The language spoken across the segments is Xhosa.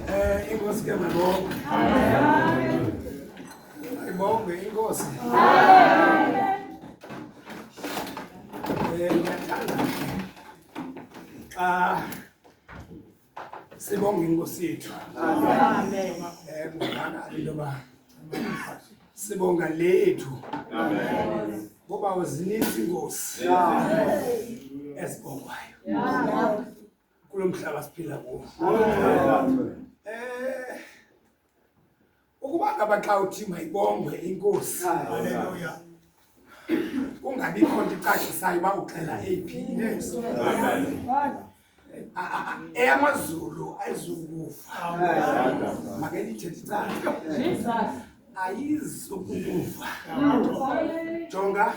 Eh, inkosi ke mabonke. Amen. Ibonge inkosi. Amen. Eh, ngiyathanda xa sibonga inkosi yethu. Amen. Eh, ngibonga into yoba sibonga lethu. Amen. Ngoba zininzi inkosi. Amen. Esibongwayo. Amen. kulo mhlaba siphila kuwo eh ukuba ngaba xa uthi mayibongwe inkosi haleluya kungabikho nto icacisayo uba uxela eyiphi eyamazulu ayizukufa make ndithethe icaca ayizukukufa jonga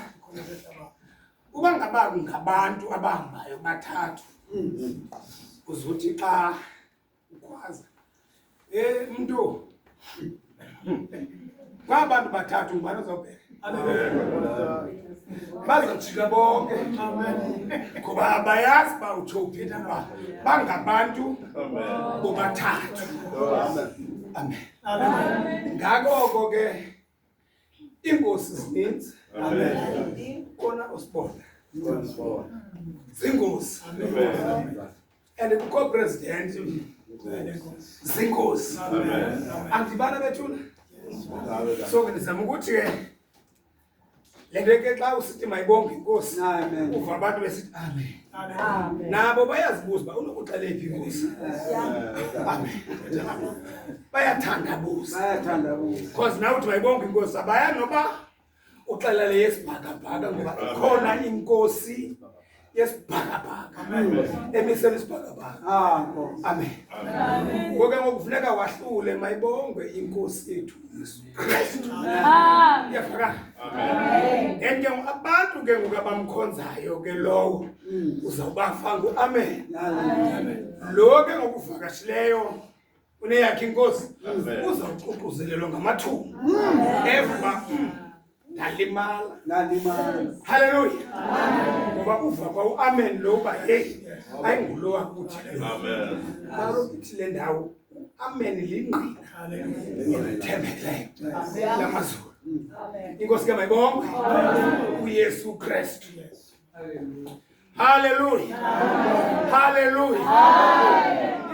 Uba ngaba ngabantu abahambayo bathathu uzothi xa ukhwaza eh mntu kwaba bantu bathathu ngubani ozobheka bazojika bonke ngoba abayazi uba utsho uphetha uba bangabantu bobathathu amen ngakoko ke Iingozi zininzi. Amen. Kona usibona. Zingozi. Amen. And kukho president zingozi. Amen. Andibana bethuna. So ngizama ukuthi ke Le nto ke xa usithi mayibonge inkosi uva abantu besithi amen. Amen. Nabo bayazibuza uba unokuxela phi inkosi. Bayathandabuza. Bayathandabuza. Because nawe uthi mayibonge inkosi abayazi noba uxelele yesibhakabhaka ngoba ikhona inkosi yesibhakabhaka emisela isibhakabhaka amen ngoke ngokufuneka wahlule mayibongwe inkosi yethu yesu kristu yafaka and ke abantu ke ngoku abamkhonzayo ke lowo mm. uzawubafa ngu-amen lo ke ngokuvakashileyo uneyakhe inkosi uzoququzelelwa ngamathumba eva ndalimala halleluya ngoba uva kwa uamen lo uba heyi ayingulo wakuthi kaloku ithi le ndawo uamen lingqina ethembekileyo lamazulu inkosi ke mayibongwe uyesu kristu Haleluya. Haleluya.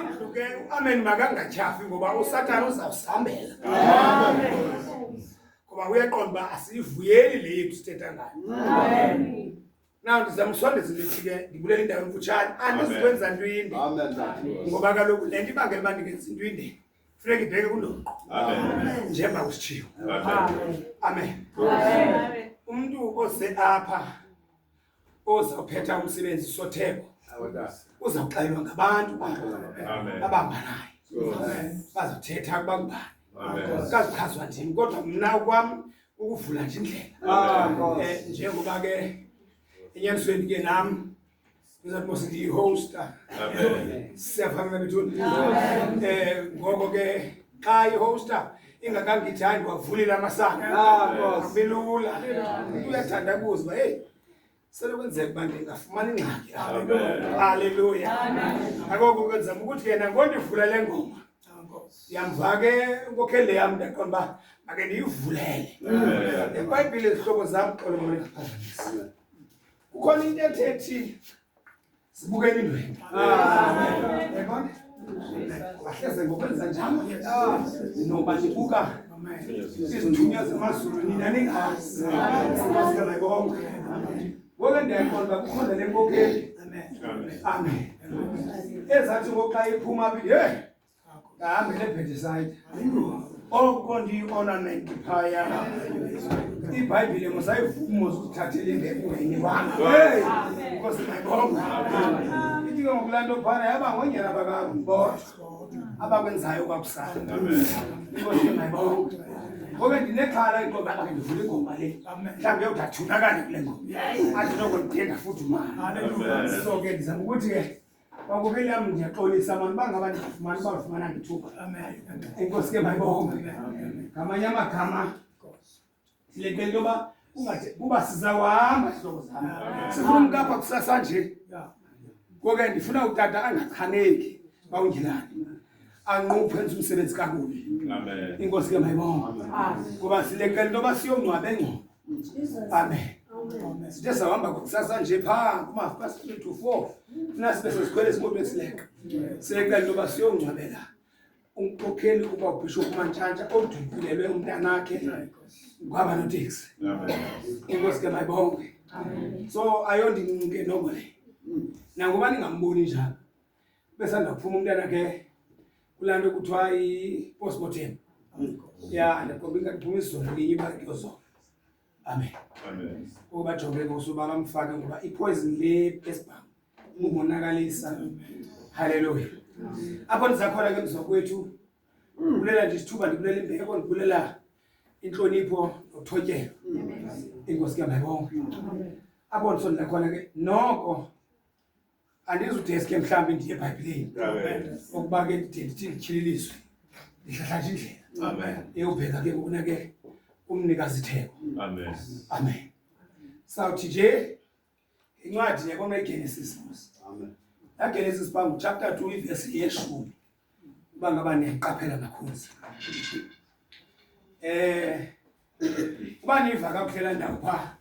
Indlu ke uamen makangatyhafi ngoba uSathane uzawusambela. Amen. Ngoba uyaqonda uba asiyivuyeli le yethu sithetha ngayo. Amen. Na ndizama usondeza lithi ke ndibulela indawo emfutshane andizikwenza ntwinde. Amen. Ngoba kaloku le nto ibangela uba ndingenza intwinde. funeka ibheke kundoqo njengoba kusitshiyo amen umntu oze apha ozawuphetha umsebenzi sotheko uzawuxelelwa ngabantu abahamba naye bazothetha ukuba ngubani kazichazwa ndini kodwa mna kwam ukuvula nje indlela um njengoba ke enyanisweni ke nam siyihosta siyafana nabethuni um eh, ngoko ke xa ihosta ingakangithandi wavulela amasango bilula uyathanda kuzi uba heyi selekwenzeka uba ndingafumani ingxaki halleluya akoko ke ndizama ukuthi yena ngondivula le ngoma yamva ke inkokheli yam ndaqona uba make ndiyivulele ebhayibhile izihlobo zam xolo mna ndiphazamisa kukhona into ethethi sibukeni indwendwe yabona ahleze ngokwenza njalo noba nibuka izinqunya zemazulu nina ningazi sikhasikana konke ngoke ndiyayiqonda uba kukhona le nkokeli amen ezathi ngoxa iphuma aphi ye Ngami le Bethsaida. Oko ndiyiona nento phaya. IBhayibhile musayivuma uzithathele ngekweni wami. Hey! Nkosi mayibonga. Ithi ke ngokulanto phana yaba ngonyana bakangibona. Abakwenzayo kwakusana. Nkosi mayibonga. Ngoba ndinexhala inqoba lakhe ndivule ingoma le. Mhlawumbi yodathunakala kule ngoma. Athi noko ndiphinda futhi manje. So ke ndizama ukuthi ke Kwakuvela ndiyaxolisa mani uba ngaba ndifumana uba ndifumana ndithuba. Enkosi ke mayibonge. Ngamanye amagama siletele into yoba kungathi kuba sizawuhamba zihlobo zam. Sifuna umntu apha kusasa nje. Ngoko ke ndifuna utata angachaneki xa ungilani. anquphe enza umsebenzi kakubi inkosi ke mayibonga kuba sileqela into yoba siyongcwabe engcobo Amen. Sithezahamba kusasa nje phaa kumafast three to four funa sibe sezikhwele ezimoto esileka siyecela into yoba siyongcwabela umkhokheli uba ubhishophu mantshantsha odudulelwe umntanakhe kwaba noteksi inkosi ke mayibonge so ayondincinke noko le nangoba ningamboni njalo besanda kuphuma umntana ke kulaa nto kuthiwa i-postmortem ya ndakhomba ingathi phuma izolo linye imali kuyozona amen ngoku bajonge ngosu uba bamfake ngoba ipoison le esibham umonakalisa halleluya apho ndizakhona ke mzokwethu ndibulela nje isithuba ndibulela imbeko ndibulela inhlonipho nothotyelo inkosi ke mayibonke apho ndisondela khona ke noko andizudeske mhlawumbi ndiye ebhayibhileni okuba ke ndide ndithi ndityhililiswe ndihlahlatha indlela eyobheka ke ngokuna ke umnikazi itheko amen sawuthi nje incwadi yakona igenesis mos lagenesis bangu chapter two ivesi yeshumi uba ngaba niyayiqaphela makhosi eh uba niva kakuhle la ndawo pha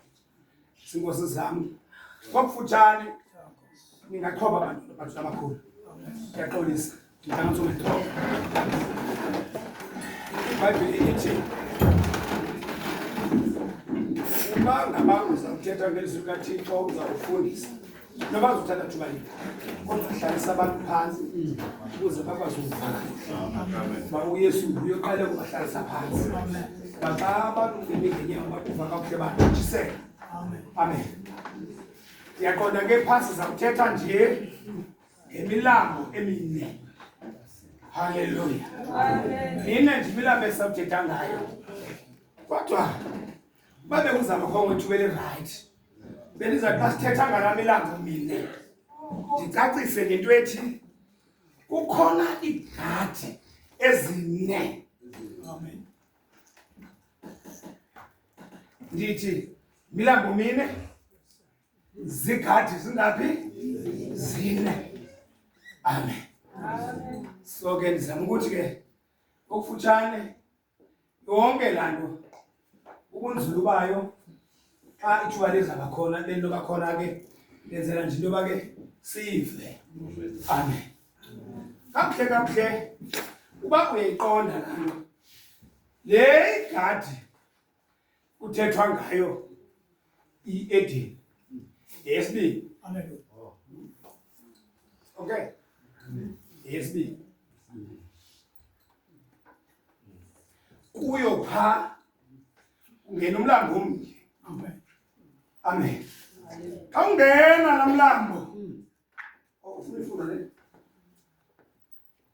sinkosi zam kwakufutshane ningaqhoba abantu abantu abakhulu ndiyaxolisa ndintangatho ngethoba ibhayibhile ithi uba ngaba uzawuthetha ngezwi kathixo uzawufundisa noba uzothatha thuba yini kodwa hlalisa abantu phansi ukuze bakwazi ukuvana ba uyesu uyoqale kubahlalisa phansi baxa abantu ungene ngenyawo bakuva kakuhle batshisele amen ndiyaqonda ke phasi zakuthetha nje ngemilambo emine halleluya nine nje imilambo esawuthetha ngayo kodwa babe kuzama khongo ithuba elirayithi bendiza xa sithetha ngalami ilanga mine ndicacise ngento ethi kukhona iigadi ezine ndithi milambo mine zigadi zingaphi zine amen so ke ndizama ukuthi ke okufutshane yonke laa nto ubunzulu bayo xa ithuba liza ngakhona le nto kakhona ke lenzela nje into yoba ke sive amen kakuhle kakuhle uba uyayiqonda laa nto le igadi kuthethwa ngayo iedini yesibini okay yesibini kuyo pha ungena umlambo omnye amen xa ungena la mlambo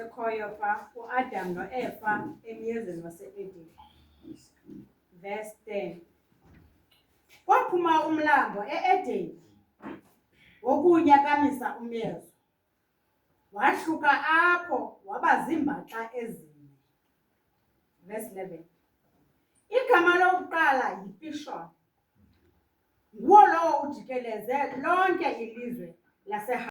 ekhoyo pha uAdam noEva emyezeni waseEden. Verse 10. Kwaphuma umlambo eEden wokunya kamisa umezo. Wahluka apho waba ziimbaxa ezine. Verse 11. Igama lokuqala yiPishon. Nguwo lowo ujikeleze lonke ilizwe laseHa